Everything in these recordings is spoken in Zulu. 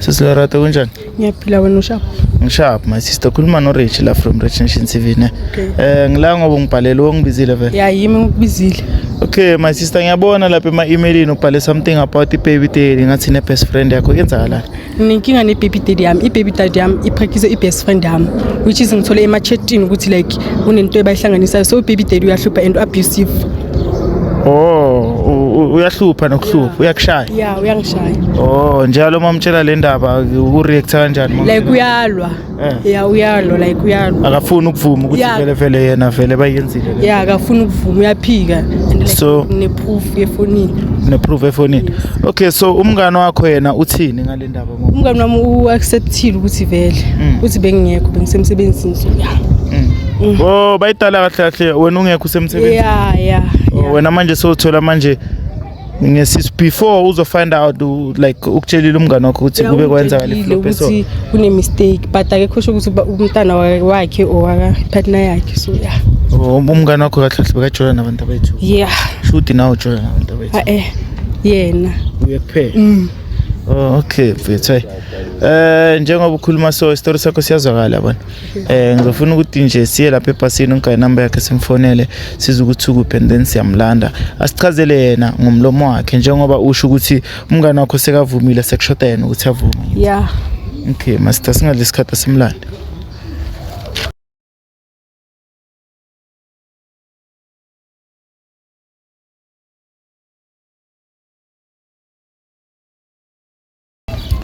Sisi Lerato kunjani? Ngiyaphila wena ushapha. Ngishapha my sister khuluma no Rich la from Rich Nation TV ne. Okay. Eh ngila ngoba ngibhalele wongibizile vele. Yeah yimi ngikubizile. Okay my sister ngiyabona lapha ema emailini ubhale something about ibaby daddy ngathi ne best friend yakho yenzakalani? Nginenkinga ne-baby daddy yami. I-baby daddy yami ipractice i-best friend yami which is ngithole ema-chatini ukuthi like kunento ebayihlanganisayo so u-baby daddy uyahlupha and u-abusive. Oh, u- u- uyahlupha nokuhlupha, uyakushaya. Yeah, uyangishaya. Oh, njalo uma umtshela le ndaba ureact kanjani? uma Like umtshela? uyalwa. Eh. ya uyalo like uyalo akafuni ukuvuma ukuthi Yeah. vele vele yena vele bayenzile le ya akafuni ukuvuma uyaphika and like So- ne-proof yefonini ne-proof efonini okay so umngane wakho yena uthini ngale ndaba ngoba umngani wami u-acceptile ukuthi vele Mm. ukuthi bengingekho bengisemsebenzini so ya Mm. oh bayidala kahle kahle wena ungekho usemsebenzini ya ya Oh, wena manje sowuthola manje ngesis before uzo find out like ukutshelile umngane wakho ukuthi kube kwenzakala iflop so ukuthi kune mistake but akekho sho ukuthi umntana wakhe owaka partner yakhe so yeah oh, um, umngane wakho kahle kahle bekajola nabantu bethu yeah shuthi nawe ujola nabantu bethu ah, eh yena uye kuphela mm. oh okay mfethu eh njengoba ukhuluma so story sakho siyazwakala yabona Eh ngizofuna ukuthi nje siye lapha ebhasini ungayi number yakhe simfonele size ukuthi ukuphi and then siyamlanda asichazele yena ngomlomo wakhe njengoba usho ukuthi umngane wakho sekavumile sekushoda yena ukuthi avume yeah okay master singadli isikhathi asimlande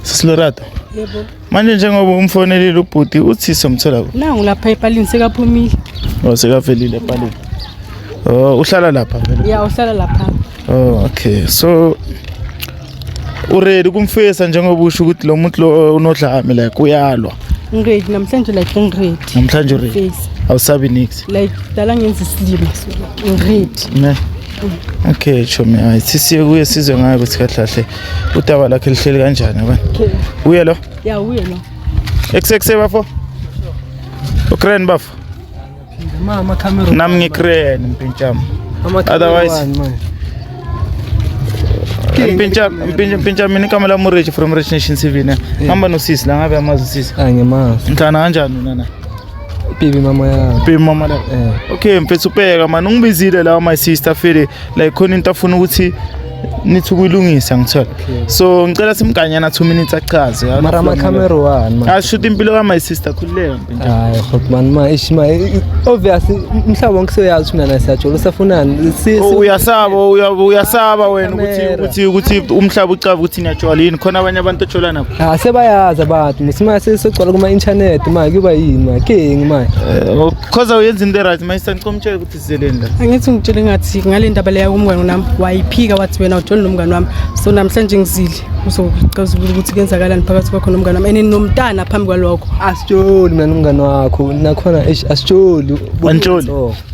Sisilorado. Yebo. Manje njengoba umfonelile ubhuti uthi somthola kuphi? Nangu lapha epalini sekaphumile. Oh sekavelile epalini. Oh uhlala lapha vele. Yeah uhlala lapha. Oh okay. So uready kumfesa njengoba usho ukuthi lo muntu lo unodlame like uyalwa. Ngiready namhlanje like ngiready. Namhlanje uready. Awusabi nix. Like dala ngenza isilima so ngiready. Ne. okay chomi hayi sisiye kuye sizwe ngayo ukuthi kahle kahle udaba lakhe lihleli kanjani abani uye lo ya uye lo ekusekuseyi bafo ucrane bafo nami ngicrane mpintshama otherwise mpintsha mina igama lami ureji from rich nation tv ne hamba nosisi la ngabe amazi usisi ngihlana kanjani wena na Pipi mama ya. Pipi mama la. Eh. Okay, mfethu ubheka mani ungibizile la my sister file like khona into afuna ukuthi nithi ukuyilungisa ngithola so ngicela simganyana 2 minutes achaze mara ama camera one man ashuthi impilo ka my sister khululeka mpinda hayi fuck man ma ish ma obvious mhlaba wonke soyazi ukuthi mina siyajola usafunani oh, uyasaba uyasaba wena ukuthi ukuthi ukuthi umhlaba ucaba ukuthi Natural yini khona abanye abantu ojola nabo? Ah sebayazi abantu ngesimanje sesogcwala kuma internet manje kuba yini manje king manje. Eh, Khoza uyenza into right manje sangicomtshela ukuthi sizeleni la. angithi ngitshele ngathi ngale ndaba leya kumngane wami wayiphika wathi wena utshole nomngane wami so namhlanje ngizile uzocazulula ukuthi kuyenzakalani phakathi kwakho nomngane wami and nomntana phambi kwalokho Asitsholi mina nomngane wakho nakhona eish asitsholi. Wantsholi?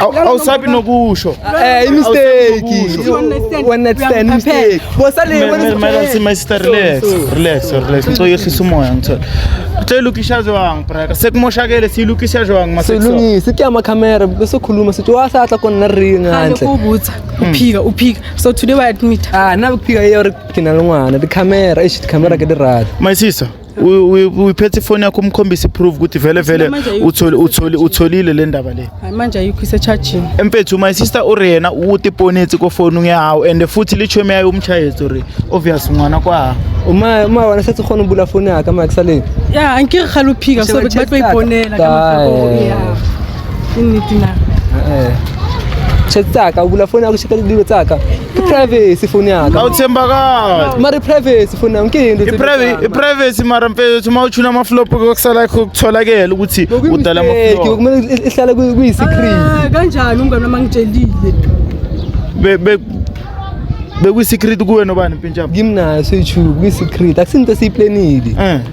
awusabi nokusho eh, ngicyoyehlisa umoya ngithola Seyilukisha jwang braka sekumoshakele siyilukisha jwang masilungise kuya amakhamera bese khuluma sithi wahlahla khona naringa ngandle ubutha hmm. uphika uphika so today we admit ah nabe kuphika iyo kina longwana the camera ish the camera ke the rad my sister uyiphethe ifoni yakho umkhombise iproof ukuthi vele vele utholi utholi utholile le ndaba le manje ayikho isecharging emfethu my sister uri yena ukuthi iponetsi kofoni ngehawu and futhi lichomi yayo umshayezi uri obvious ngwana kwa uma uma wena sethi khona ubula foni yakhe ama kusaleni ya angike khaluphika so bathi bayiponela kama ya initi na eh, eh. chetaka ubula foni yakho shikala dilo tsaka privacy foni yaka awuthembakali mara privacy foni yami kuyini ukuthi privacy mara mfethu uthi mawuchuna ama flop kokusala kutholakele ukuthi udala ama flop kumele ihlale kuyi secret ah, kanjani umngane wami angitshelile be be bekuyi secret kuwe nobani mpintshaba ngimnayo soyichuku kuyi secret akusinto esiyiplanile eh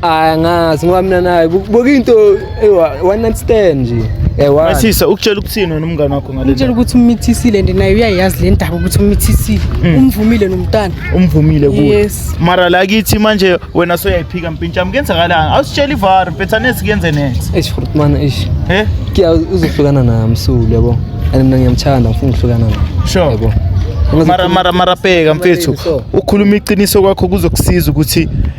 Hayi ngazi ngoba mina naye bokuyinto one night stand nje. Ewa. Masisa ukutshela ukuthini wena umngane wakho ngale. Ukutshela ukuthi umithisile and naye uyayazi le ndaba ukuthi umithisile. Hmm. Umvumile nomntana. Umvumile kuwe. Yes. Mara la kithi manje wena soyayiphika mpintsha mkenzakalanga. Awusitshela ivar mpethanesi kuyenze next. Eish futhi mana eish. Eh? Kiya uzohlukana naye msulu yabo. And mina ngiyamthanda ngifuna ukuhlukana naye. Sure. Yabo. Mara mara mara bheka mfethu. Ukhuluma iqiniso kwakho kuzokusiza ukuthi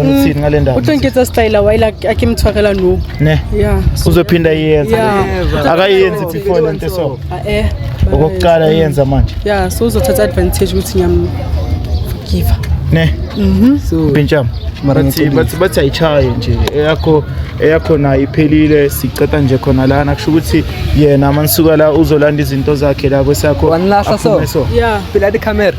uthini ngale ndaba uthi ngiketsa style wayila akimthwakela no ne yeah uzophinda iyenza akayenzi before lento so ah, eh okokuqala iyenza manje yeah so uzothatha advantage ukuthi ngiyam give ne mhm so benjam bathi bathi bathi ayishaye nje eyakho eyakho nayo iphelile siceta nje khona lana kusho ukuthi yena manisuka la uzolanda izinto zakhe la kwesakho wanilahla so yeah phila di camera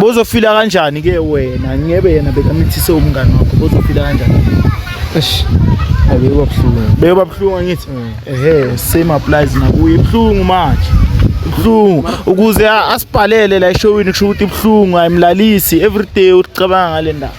bozofila kanjani ke wena ngebe yena bekamithise umngane wakho bozofila kanjani eish abeyoba buhlungu beyoba buhlungu ngithi mm. ehe same applies nakuye ibuhlungu manje ibuhlungu ukuze asibhalele la eshowini kusho ukuthi ibuhlungu ayimlalisi everyday ucabanga ngale ndaba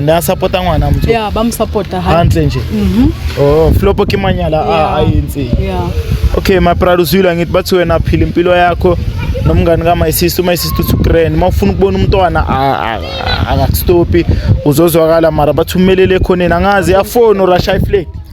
ne a support-a ngwana motho yeah, ba mo support-a hantle nje mhm. oh flopo ke manyala a entseng okay my pride usuyila ngithi bathi wena phila impilo yakho nomngani ka my sister my sister to grand uma ufuna ukubona umntwana akakustopi uzozwakala mara bathumelele ekhoneni angazi yafoni urasha iflake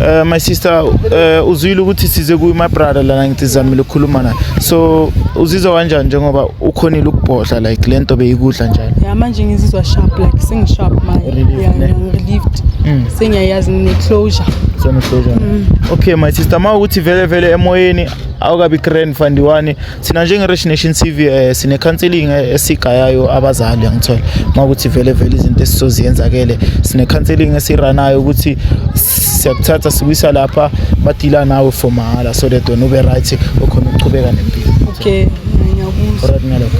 Uh, my sister uh, uzwile ukuthi size kuyo my brother lana ngithi zamile ukukhuluma naye so uzizwa kanjani njengoba ukhonile ukubhodla like le nto beyikudla njalo ya manje ngizizwa sharp like sengisharp manje ngirelieved mm. sengiyayazi ngine-closure sone-closure mm. okay my sister ma ukuthi vele vele emoyeni awukabi grand fandiwani thina njenge-rich nation t v um sine-counselling eh, esigayayo abazali angithole uma ukuthi vele vele izinto esizoziyenza-kele sine-counselling esiranayo ukuthi siyakuthatha sikuyisa lapha badila nawe for mahhala so that wena ube right okhona ukuchubeka nempilo okay ngiyakuza right ngalokho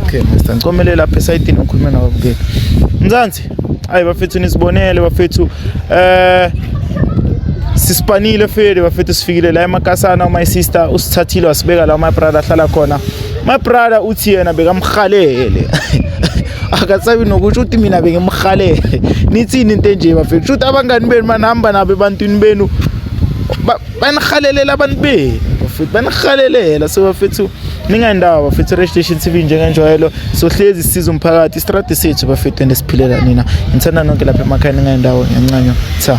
okay mr ngicomelela lapha esayidini ngikhulume nawe bukeli mzansi Hayi bafethu nisibonele bafethu eh sisipanile fele bafethu sifikile la emakasana uma isister usithathile wasibeka la my brother ahlala khona my brother uthi yena bekamhalele akasabi nokusho ukuthi mina bengimhalele nithini into enje bafethu shuthi abangani benu manihamba nabo ebantwini benu banihalelela abantu benu bafethu banihalelela so bafethu ningayendawo bafethu radio station tv njengenjwayelo sohlezi sisiza umphakathi istradi sethu bafethu and esiphilela nina ngithanda nonke lapha emakhaya ningayendawo ngencanyo cha